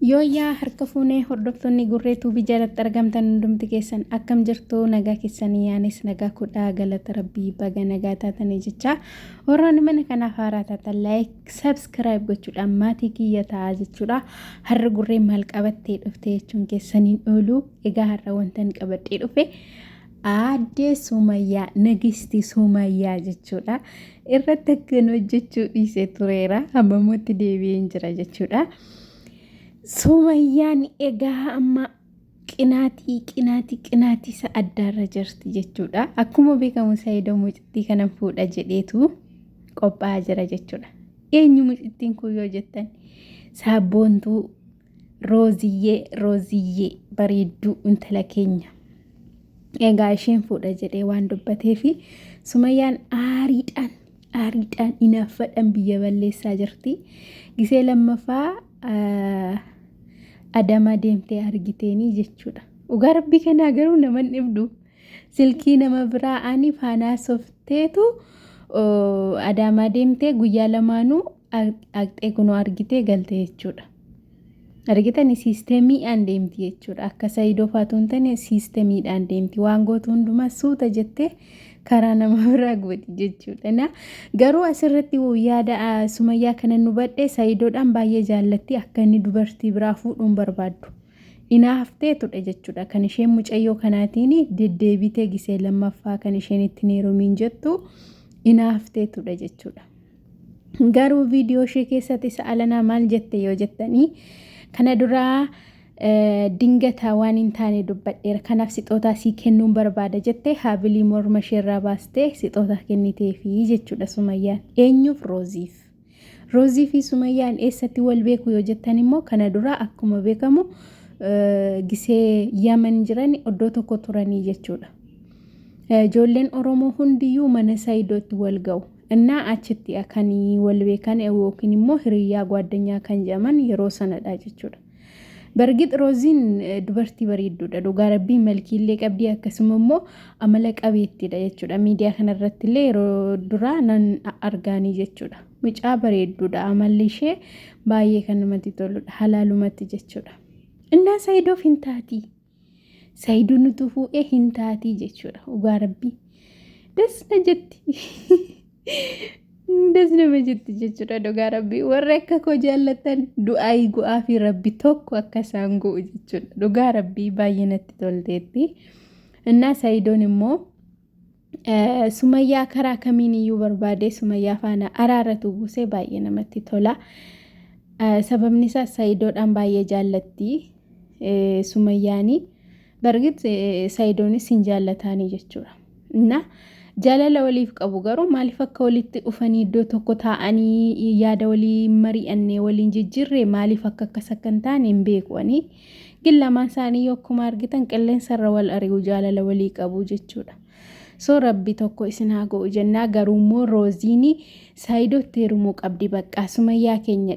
Yooyyaa harka fuunee hordoftoonni Gurree Tuubii jalatti argamtan hundumti keessan akkam jirtu nagaa keessanii anis nagaa kudhaa galata rabbii baga nagaa taatanii jechaa warroonni mana kanaaf haaraa taatan laayik sabskiraayib gochuudhaan maatii kiyya ta'aa jechuudha har'a gurree maal qabattee dhufte jechuun keessaniin oolu egaa har'a wantan qabadhee dhufe Aaddee Sumayyaa Nagisti Sumayyaa jechuudha. Irratti akkan hojjechuu dhiise tureera. Hammamootti deebi'een jira jechuudha. Sumayyaan egaa amma qinaatii qinaatii qinaatii isa addaarra jirti jechuudha. Akkuma beekamu Saayidoo mucittii kana fuudha jedheetu qophaa'aa jira jechuudha. Eenyu mucittiin kun yoo jettan saabboontuu Rooziyyee Rooziyyee bareedduu intala keenya. Egaa isheen fuudha jedhee waan dubbatee fi sumayyaan aariidhaan aariidhaan inaaffadhaan biyya balleessaa jirti. Gisee lammaffaa adamaa deemtee argiteenii jechuudha. Dhugaa rabbii kanaa garuu naman dhibdu. Silkii nama biraa ani faanaasofteetu adaamaa deemtee guyyaa lamaanuu dhaqxee kunoo argitee galte jechuudha. Argitani siistemiidhaan deemti jechuudha. Akka sayidoo faatu hin taane siistemiidhaan deemti. Waan gootu hundumaa suuta jettee karaa nama biraa gooti jechuudha. Na garuu asirratti yaada sumayyaa kana nu badhe sayidoodhaan baay'ee jaallatti akka inni dubartii biraa fuudhuun barbaaddu. Inaaftee tudhe jechuudha. Kan isheen mucayyoo kanaatiin deddeebitee gisee lammaffaa kan isheen ittiin heerumiin jettu inaaftee tudhe jechuudha. Garuu viidiyoo ishee keessatti sa'alanaa maal jette yoo jettanii kana duraa dingataa waan hin taane dubbadheera kanaaf sixootaa sii kennuun barbaada jettee haabilii morma isheerraa baastee sixootaa kenniteefi jechuudha sumayyaan eenyuuf rooziif. Roozii fi Sumayyaan eessatti wal beeku yoo jettan immoo kana dura akkuma beekamu gisee Yaman jiran iddoo tokko turanii jechuudha. Ijoolleen Oromoo hundiyyuu mana Saayidootti wal ga'u. Innaa achitti kan wal beekan yookiin immoo hiriyyaa gwaaddanyaa kan jedhaman yeroo sanadha jechuudha. Bargit Rooziin dubartii bareedduudha. Dhugaa rabbii malkiillee qabdii akkasuma immoo amala qabeettiidha jechuudha. Miidiyaa kanarratti illee yeroo duraa nan argaanii jechuudha. Mucaa bareedduudha. Amalli ishee baay'ee kan namatti toludha. Halaalumatti jechuudha. Innaa Saayidoof hin taatii. Sayidu nutu fuudhee hin taatii jechuudha dhugaa rabbii. Das na jetti. Das nama jetti jechuudha dhugaa rabbii. Warri akka koo jaallattan du'aayi go'aa fi rabbi tokko akka isaan go'u jechuudha. Dhugaa rabbii baay'ee natti tolteetti. Innaa sayidoon immoo Eh, Sumayyaa karaa kamiin iyyuu barbaadee Sumayyaa faana araaratu buusee baay'ee namatti tola. Eh, Sababni isaas Sayidoodhaan baay'ee jaallatti eh, Sumayyaani. Bargit eh, Sayidoonis hin jaallataanii jechuudha. Na jaalala waliif qabu garuu maaliif akka walitti dhufanii iddoo tokko taa'anii yaada walii mari'annee waliin jijjiirre maaliif akka akkas akka hin taane hin beeku ani. Gin lamaan isaanii yoo akkuma argitan qilleensa irra wal ari'u jaalala walii qabu jechuudha. So rabbi tokko isin haa go'u jennaa garuu immoo rooziini saayidootti heerumuu qabdi baqqaa sumayyaa keenya.